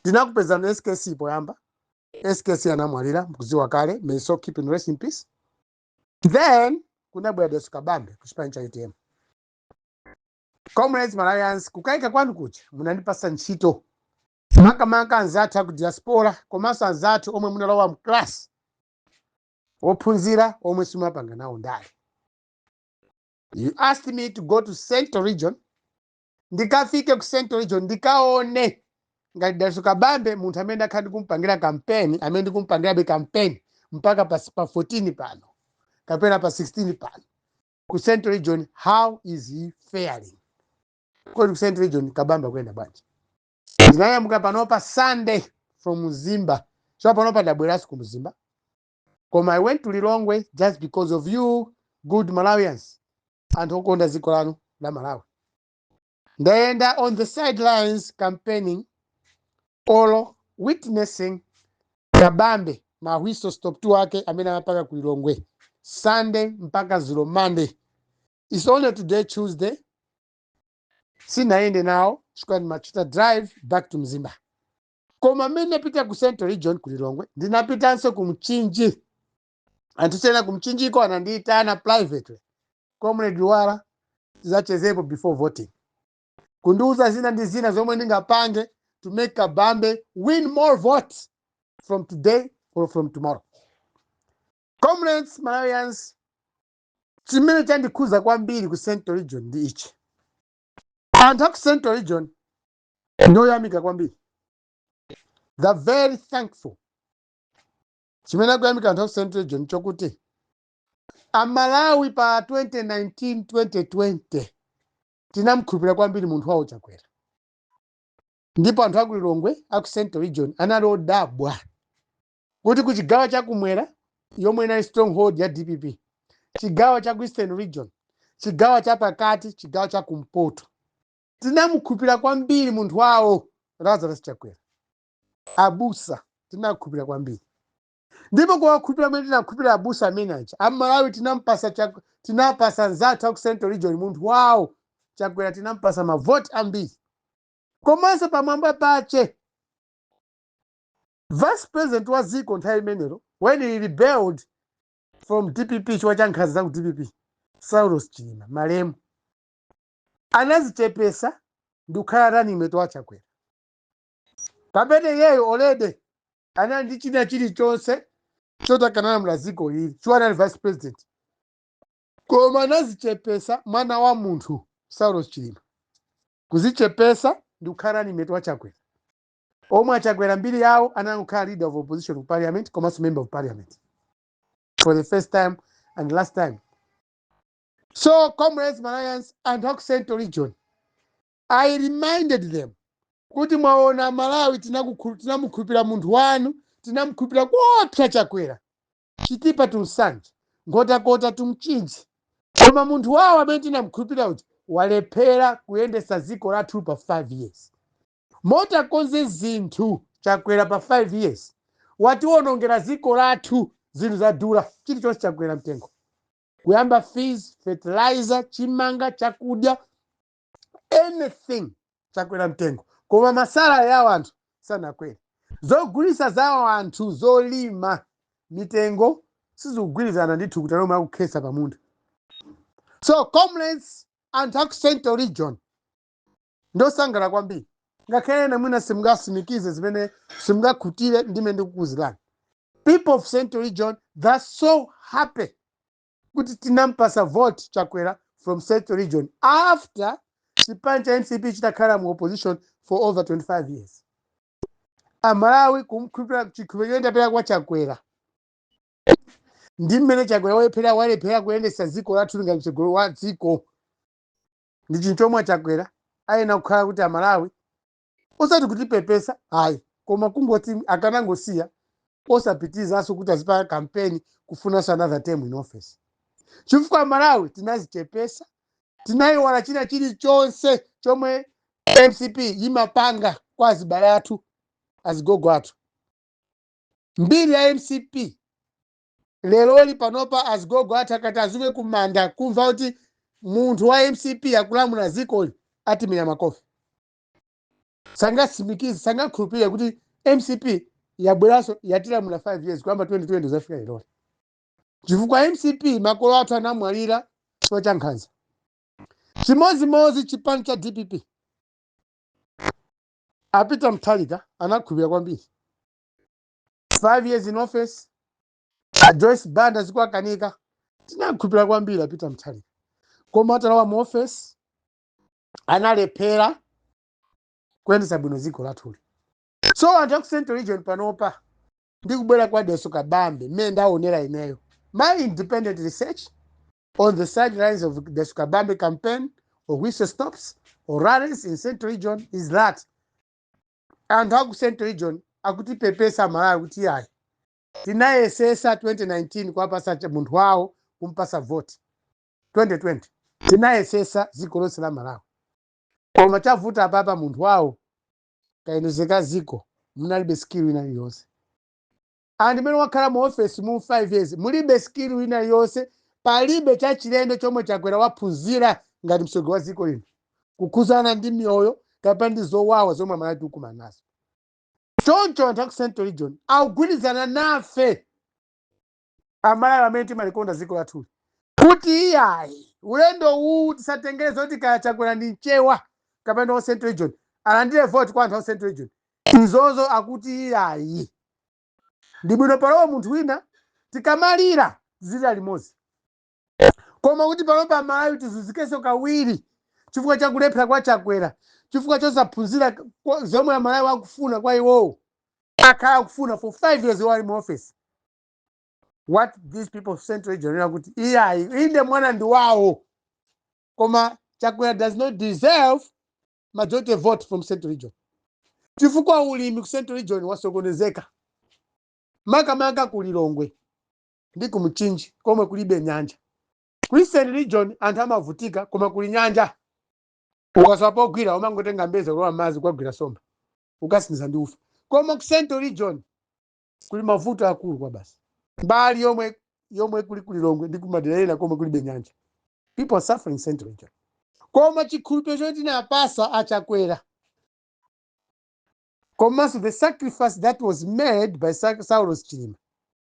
ndinakupezani skc poyamba skc anamwalira mkuziwa kale may his soul keep on resting in peace then kunabwera daliso kabambe kuchipani cha utm comrades malawians kukaika kwanu kuja munandipasa ntchito makamaka anzathu aku diaspora komanso anzathu omwe munalowa mclass ophunzira omwe simapanga nawo ndale you asked me to go to central region ndikafike ku central region ndikaone ngati daliso kabambe munthu amene ndakhala ndikumpangira kampeni amene ndikumpangirabe kampeni mpaka pa, pa 14 pano kapena pa 16 pano ku central region how is he faring kodi ku central region kabambe akuyenda bwanji ndinanyamuka panopa sunday from mzimba so panopa ndabweranso ku mzimba koma i went to lilongwe just because of you good malawians anthu okonda dziko lanu la malawi ndayenda on the sidelines campaigning or witnessing kabambe ma whistle stop tour ake amene amapanga ku lilongwe sunday mpaka zulo monday its only today tuesday sinayende nawo chifukwa ndimachita drive back to mzimba koma mmene ndinapita ku central region ku lilongwe ndinapitanso ku mchinji anthu ena kumchinjiko anandiitana privately comrade luwala zatichezepo before voting kundiuza zina ndi zina zomwe ndingapange to make kabambe win more votes from today or from tomorrow comrades malawians chimene chandikhuza kwambiri ku central region ndi ichi anthu aku central region ndoyamika kwambiri they're very thankful chimene akuyamika anthu aku central region nchokuti amalawi pa 2019 2020 tinamkhulupirira kwambiri munthu wawo chakwera ndipo anthu aku lilongwe aku central region anali odabwa kuti ku chigawo chakumwera yomwe inali stronghold ya dpp chigawo cha ku eastern region chigawo cha pakati chigawo cha kumpoto tinamkhulupirira kwambiri munthu wawo lazarus chakwera abusa tinakhupira kwambiri ndipo kuwakhulupira kumene tinakhupira abusa amene aja amalawi tinampasa chak- tinapasa nzathu aku central region munthu wawo chakwera tinampasa mavoti ambiri komanso pamwamba pache vice president wa dziko nthawi imenero when he rebelled from dpp chifukwa cha nkhanza za ku dpp saulos chilima malemu anazichepesa ndi kukhala running mate wa chakwera pamene iyeyo already anali ndi china chilichonse chotha kulamula dziko ili chifukwa anali vice president koma anazichepesa mwana wa munthu saulos chilima kuzichepesa ndi kukhala running mate wa chakwera omwe achakwera mbiri yawo anangokhala leader of opposition ku parliament komanso member of parliament for the first time and last time so comrades malawians anthu aku central region I reminded them kuti mwaona Amalawi tinamukhulupira munthu wanu tinamukhulupira kuopsa Chakwera chitipa to Nsanje nkhotakota to Mchinji koma munthu wawo amene tinamukhulupira uja walephera kuyendetsa dziko lathu pa 5 years moti akonze zinthu Chakwera pa 5 years watiwonongera dziko lathu zinthu zadula chilichonse chakwera mtengo kuyamba fees fertilizer chimanga chakudya anything chakwera mtengo koma masalary a wanthu sanakwere zogulitsa za anthu zolima mitengo sizikugwirizana ndi thukuta lomwe akukhetsa pa munda so comrades anthu aku central region ndosangala kwambiri ngakhale ena mwina simungatsimikize zimene simungakhutire ndimene ndikukuuzirani people of central region they're so happy kuti tinampasa vote chakwera from central region after chipani cha mcp chitakhala mu opposition for over 25 years amalawi kumkhulupira chikhulupiriro tidapereka kwa chakwera ndi mmene chakwera walephera walephera kuyendesa dziko lathu ngati mtsogoleri wa dziko ndi chinthu chomwe chakwera ayenera kukhala kuti amalawi osati kutipepesa ayi koma kungoti akanangosiya osapitizanso kuti azipanga campaign kufunanso another term in office chifukwa amalawi tinazichepesa tinayiwala china chilichonse chomwe mcp yimapanga kwa azibale athu azigogo athu mbiri ya mcp lerolino panopa azigogo athu akati azuke kumanda kumva kuti munthu wa mcp akulamula dzikoli atimenya makofi sangatsimikize sangakhulupirire kuti mcp yabweranso yatilamula 5 years kuyamba 2020 kudzafika lero chifukwa mcp makolo athu anamwalira chifukwa cha nkhanza chimodzimodzi chipani cha dpp a peter mutharika anakhulupirira kwambiri 5 years in office a joyce banda zikuwakanika tinakhulupirira kwambiri a peter mutharika koma atalowa mu office analephera kuyendetsa bwino dziko lathuli so anthu aku central region panopa ndi kubwera kwa dalitso kabambe mmene ndaonera ineyo my independent research on the sidelines of dalitso kabambe campaign or whistle stops or rallies in central region is that anthu aku central region akutipepesa amalawi kuti yayi tinayesesa 2019 kuwapasa cha- munthu wawo kumpasa voti 2020 tinayesesa ziko lonse la malawi koma chavuta apapa munthu wawo kayendesedwe ka ziko munalibe skill ina iliyonse and mmene wakhala mu office mu 5 years mulibe skill ina iliyonse palibe chachilendo chomwe chakwera waphunzira ngati msogoleri wa ziko lino kukhuzana ndi miyoyo kapena ndi zowawa zomwe amalawi tikumana nazo choncho anthu aku central region akugwirizana nafe amalawi amene timalikonda dziko lathuli kuti iyayi ulendo uwu tisatengere zoti kaya chakwera ndi mchewa kapena wa central region alandire vote kwa anthu a central region izozo akuti iyayi ndi bwino palowe munthu wina tikamalira tizilira limodzi koma kuti panopa amalawi tizunzikenso kawiri chifukwa cha kulephera kwa chakwera chifukwa chosaphunzira kwa- zomwe amalawi akufuna kwa iwowo akhala akufuna for five years iwo ali mu office what these people of central region akuti iyayi inde mwana ndi wawo koma chakwera does not deserve majority vote from central region chifukwa ulimi ku central region wasokonezeka makamaka ku lilongwe ndi ku Mchinji komwe kulibe nyanja. Ku Eastern region anthu amavutika koma kuli nyanja. Ukasowa pogwira umangotenga mbeza kulowa m'madzi kukagwira somba. Ukasinthisa ndi ufa. Koma ku Central region kuli mavuto akulu kwabasi. Mbali yomwe yomwe kuli ku Lilongwe ndi kumadera ena komwe kulibe nyanja. People are suffering in Central region. Koma chikhulupiriro choti tinapasa achakwera komanso the sacrifice that was made by Sa- Saulos Chilima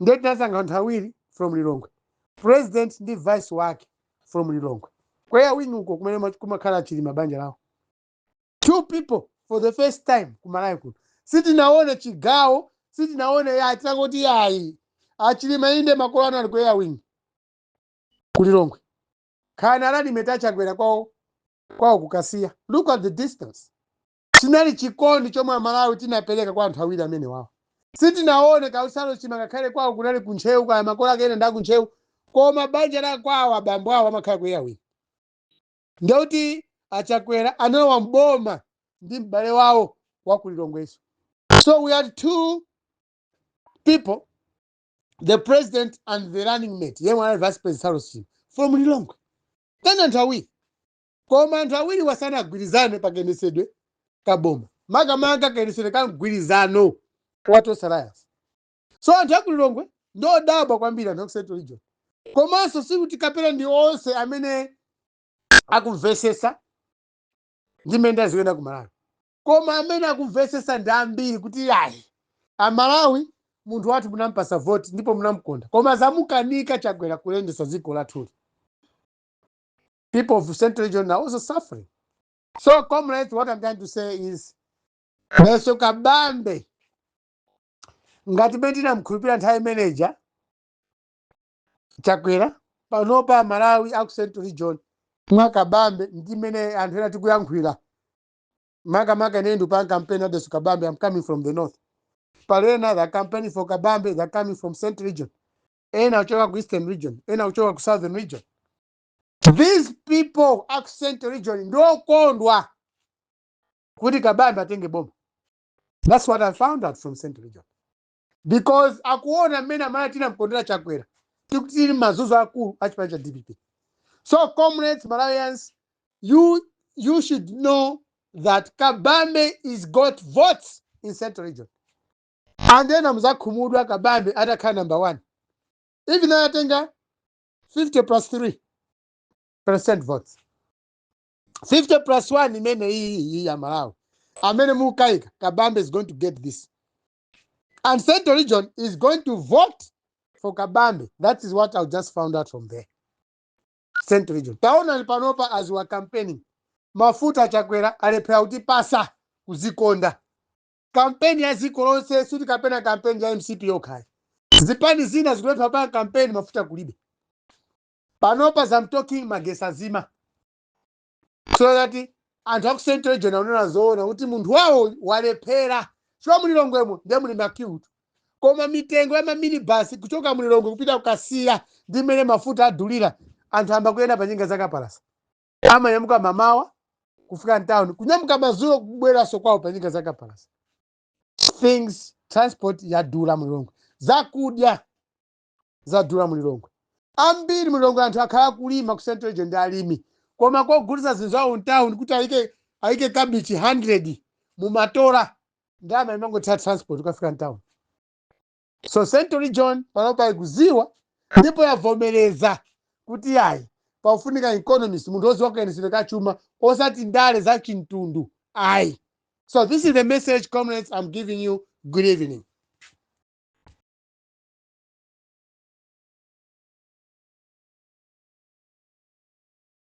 ndiye tinasankha anthu awiri from lilongwe president ndi vice wake from lilongwe ku air wing uko kumene ma- kumakhala achilima banja lawo two people for the first time kumalawi kuno sitinaone chigawo sitinaone yayi tinangoti yayi achilima inde makolo anali ku air wing kulilongwe khana alalime achakwera kwawo kukasiya look at the distance chinali chikondi chomwe amalawi tinapereka kwa anthu awiri amenewawo sitinaone kuti saulos chilima ngakhale kwawo kunali ku ntcheu kaya makolo ake ena ndaku ntcheu koma banja la kwawo abambo awo amakhala ku air wing ndekuti achakwera analowa mboma ndi m'bale wawo wa ku lilongweso so we had two people the president and the running mate yemwe anali vice president saulos chilima from lilongwe then anthu awiri Koma anthu awiriwa sanagwirizane pa kayendetsedwe ka boma, makamaka kayendetsedwe ka mgwirizano wa Tonse Alliance. So anthu a ku Lilongwe ndi odabwa kwambiri, anthu a ku Central Region. Komanso sikuti kapena ndi onse amene akumvetsetsa ndi mmene ndale zikuyendera ku Malawi. Koma amene akumvetsetsa ndi ambiri kuti ayi, Amalawi munthu wathu munampatsa voti ndipo munamkonda, koma zamukanika Chakwera kuyendetsa dziko lathuli. people of Central Region are also suffering. So, comrades, what I'm trying to say is, Dalitso Kabambe, ngati mmene tinamkhulupirira nthawi imeneja chakwera panopa amalawi aku central region mwakabambe ndi mmene anthu ena tikuyankhulira makamaka ine ndikupanga campaign a Dalitso kabambe i'm coming from the north pali ena they campaign for kabambe they're coming from central region ena kuchoka ku eastern region ena kuchoka ku southern region These people aku Central region ndokondwa kuti kabambe atenge boma. That's what I found out from Central Region. Because akuona mmene Amalawi tinamkondera chakwera tikuti tili mazuzo akulu a chipani cha DPP. So comrades Malawians, you should know that Kabambe is got votes in Central Region. Ndiye ena adzakhumudwa Kabambe atakhala number one. Even though atenga 50 plus 3 percent votes 50 plus 1 imene iyi iyi ya malawi amene mukaika kabambe is going to get this and central region is going to vote for kabambe that is what i just found out from there central region taonani panopa as we are campaigning mafuta achakwera alephera kuti pasa kuzikonda kampeni ya dziko lonse sikuti kapena kampeni ya mcp yokhayi zipani zina zikulephera kupanga kampeni mafuta kulibe panopa as I'm talking magetsi azima so that anthu aku central region aona zoona kuti munthu wawo walephera chifukwa mulilongwemo ndiye muli likulu koma mitengo ya maminibasi kuchoka mulilongwe kupita kukasiya ndi mmene mafuta adulira anthu amba kuyenda pa njinga zakapalasa amanyamuka mamawa kufika mtown kunyamuka madzulo kubweranso kwawo pa njinga za kapalasa things transport yadula mulilongwe zakudya zadula mulilongwe ambiri mulilongwe anthu akhala akulima ku central region ndi alimi koma kogulitsa zinthu zawo mtown kuti ayike kabichi 100 mumatola ndalama imangothera transport ukafika mtown so central region panopa ikuziwa ndipo yavomereza kuti yayi pakufunika economist munthu woziwa kayendetsedwe ka chuma osati ndale za chimtundu ayi so this is the message comrades i'm giving you good evening